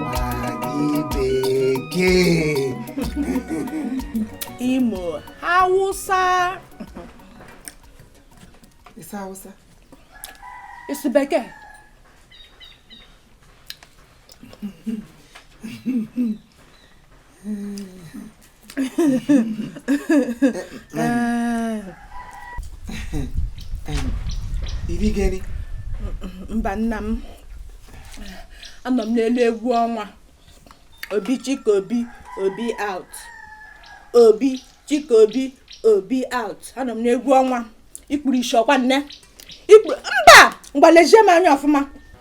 Magị bekee. imo hausa Ịsa Hausa. isi bekee mba nna m anọ m n'elu egwu ọnwa obi chika obi obi out obi chika obi obi out anọ m n'egwu ọnwa i kpuru ishi ọkwa nne mba ngwa lezie m anya ọfụma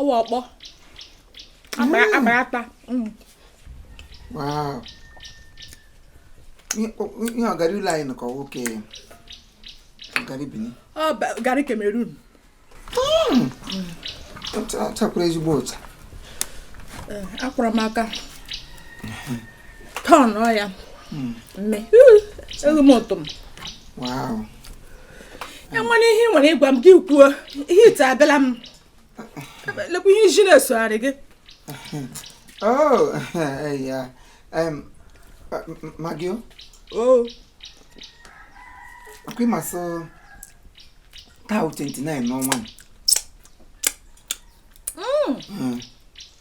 ọwa ọkpọ akparata mm. ihe ọgara ụlọ anyị nọkọ nwoke garri Bini garri Cameroon chakwara mm. ezigbo ụcha eh, akwara m aka turn ya mm. mme eghị m ụtọ m ị nwere ihe ị nwere ịgwa m gị kwuo ihe ite abịala m lekwa ihe iji na-esogharị gị magio ọkwa ị ma sị taa 29 n'ọnwa hmm. hmm.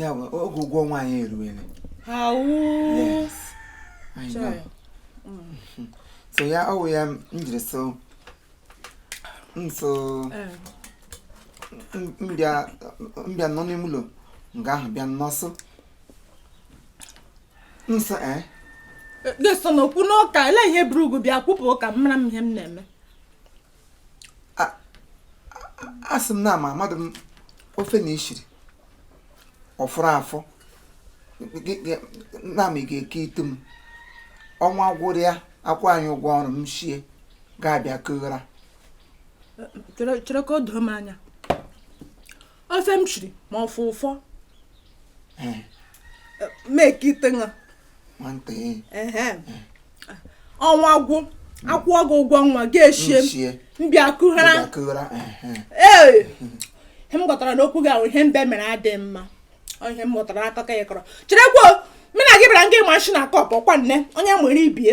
ya bụ oge ụgwọ ọnwa anyị eruwele so ya ọ wụ ya m jiri so nso m bịa nọ n'ime ụlọ nga ahụ bịa nnọsụ nso ee eh? ga-eso n'okwu n'ụka elee ihe buru gị bịa kwupụ ka m mara ihe m na-eme asị m na ama amadụ m ofe na i shiri ọ fọrọ afọ na m ga-eketụ m ọnwa gwụrụ ya akwụọ anyị ụgwọ ọrụ m shie gị abịa kughara chere ka o doo m anya ofe m shiri ma ọ fọrọ afọ m eketụ gị nwantị ehe ọnwa gwụ akwụọ gị ụgwọ ọnwa gị eshie nchie m bịa kughara ụgbakụra ehe ee ihe m ghọtara n'okwu gị ahụ ihe mbe mere adịghị mma Ọ ihe m ghọtara n'akụkọ ya kọrọ cherekwa mụ na gị bịara nga ịma nshi na kọp ọkwa nne onye nwere ibie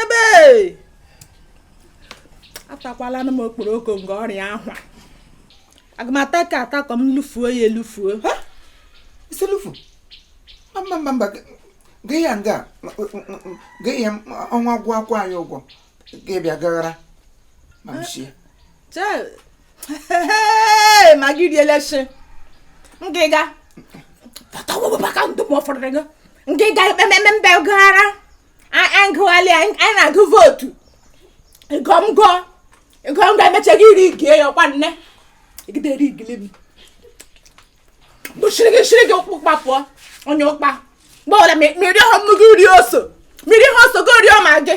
ebe atakwalanụ m okporoko nke ọrịa ahụ aga m ata ka ata ka m lufuo ya elufuo ị sị lufuo mba mba mba gị ya nga gị ya ọnwa gwụ akwụọ anyị ụgwọ gị bịa gaghara ma m shie ma gị riele shi ngịga tọtọwụbaka ndụ m ọ fọrọ gị ngịga ekpememe mbe gaghara agụghalị anyị na-agụ vootu gọmgọ gọmgọ emechaghị iri gie ya ọkwa nne egidere igili m bụchiri gị chiri gị ụkwụ kpapụọ onye ụkpa mgbe ọbụla mmiri ọhụrụ mmiri uri oso mmiri ihe ọ sọ gị rie ma gị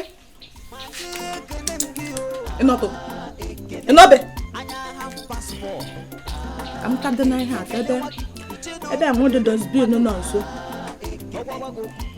ịnọtụ ịnọbe amụta dị na ihe atọ ebe ebe amụdụ dustbin nọ nso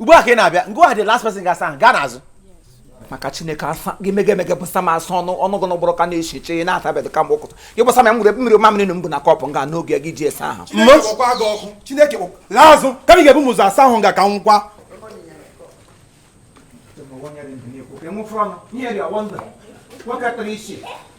ugbu a ka ị na-abịa ngwa the last person ga-asa ahụ gaa n'azụ maka chineke asa gị mega emega bụsa m asọ ọnụ gị n'ụgbọrọ ka na-eche eche ihe na-atabeghị kamgbe ụkụtụ gị bụsa m ya nwere mmiri mamịrị na mbụ na kọpụ nga n'oge gị ji esa ahụ chineke kpọkwa laa azụ ka m ga-ebu m ụzọ asa ahụ nga ka nwụkwa nwoke tara isi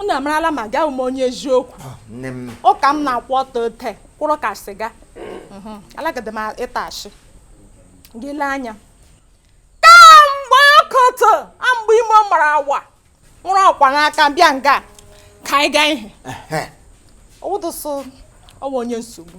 unu amarala m nga awụ m onye eziokwu ah, ụka m na-akwụ ọtọ ote kwụrụ ka sịga mhm. alagide m ịtụ ashị gị lee anya kamgbe ọkụtụ amgbe ime mara awa were ọkwa n'aka bịa nga ka anyị gaa ihe ọwụdụsụ ọwa onye nsogbu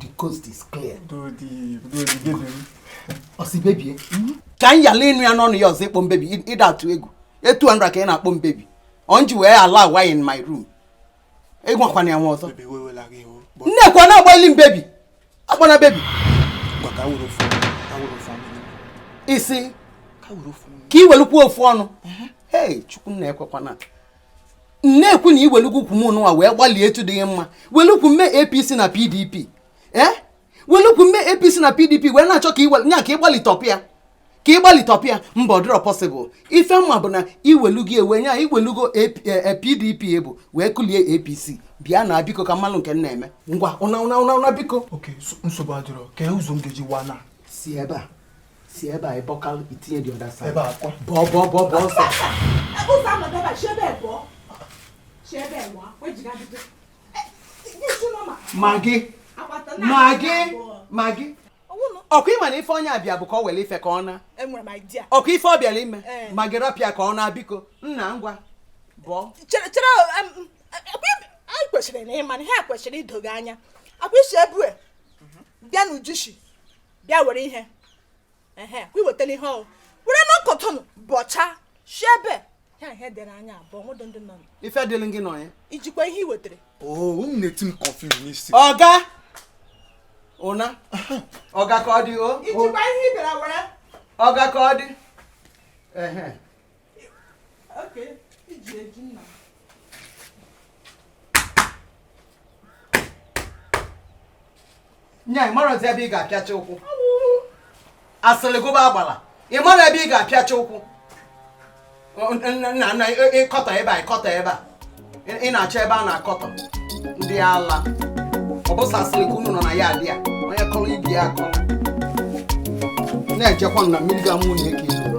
the coast is clear ọ sị baby ka m yala ịnụ ya n'ọnụ gị ọzọ ị kpọ m baby ị da atụ egwu two hundred ka ị na-akpọ m baby ọnji wee allow wa in my room ịgwakwana ya nwa ọzọ nekwa na-agbalị m baby akpọna baby isi ka iwelukwa ofu ọnụ ee chukwu nna ekwekwana nekwa na iwelugo ukwu m nụwa wee gbalie etu dịghị mma welu ukwu m mee apc na pdp ee eh? welu ukwu m mee apc na pdp wee na-achọ ka nya ka ịgbalịtọpụ ya ka ịgbalịtọpụ ya mba ọ dịrọ possible ife m ma bụ na iwelugo ewe nya iwelugo pdp e, e bụ wee kulie apc bịa nna biko ka m malụ nke na-eme ngwa nna nna nna biko nsogbu adịrọ kee ụzọ m ga-eji wee naa si ebe a si ebe a ịbọka i tinye the other side bọọ bọọ bọọ bọọ ọsọ ụzọ ama bịaba chi ebe bọọ chi ebe nwa wejiga bido maggie maggie maggie okay ị ma na ife onye a bịa bụ ka o were ife ka ọ naa okay ife ọ bịara ime eh. maggie rapụ ya ka ọ naa biko nna ngwa bọọ chere chere anyị kwesịrị na ịma na ha kwesịrị ido gị anya akwa isi ebue bịa n'ujushi bịa were ihe ehe kwa iwetala ihe ọ wụ were na ọkọtụnụ bọcha si ebe ya ihe dere anya abụọ nwedụ ndị nọ ife dịrị gị nọ ya ijikwa ihe i wetara oh, unu na-eti m confuse n'isi ọga ụna ọga ka ọ dị o ijikwa ihe ị bịara were ọga ka ọ dị nya ị mara ebe ị ga-apịacha ụkwụ asịrị gụba agbala ị mara ebe ị ga-apịacha ụkwụ nna nna ị kọtọ ebe a ị kọtọ ebe a ị na-achọ ebe a na-akọtọ ndị ala ọ bụ sọ asịrị ka unu nọ na ya adị ya onye kọrọ ibe ya akọrọ na-ejekwa na mmiri ga mụ na eke iru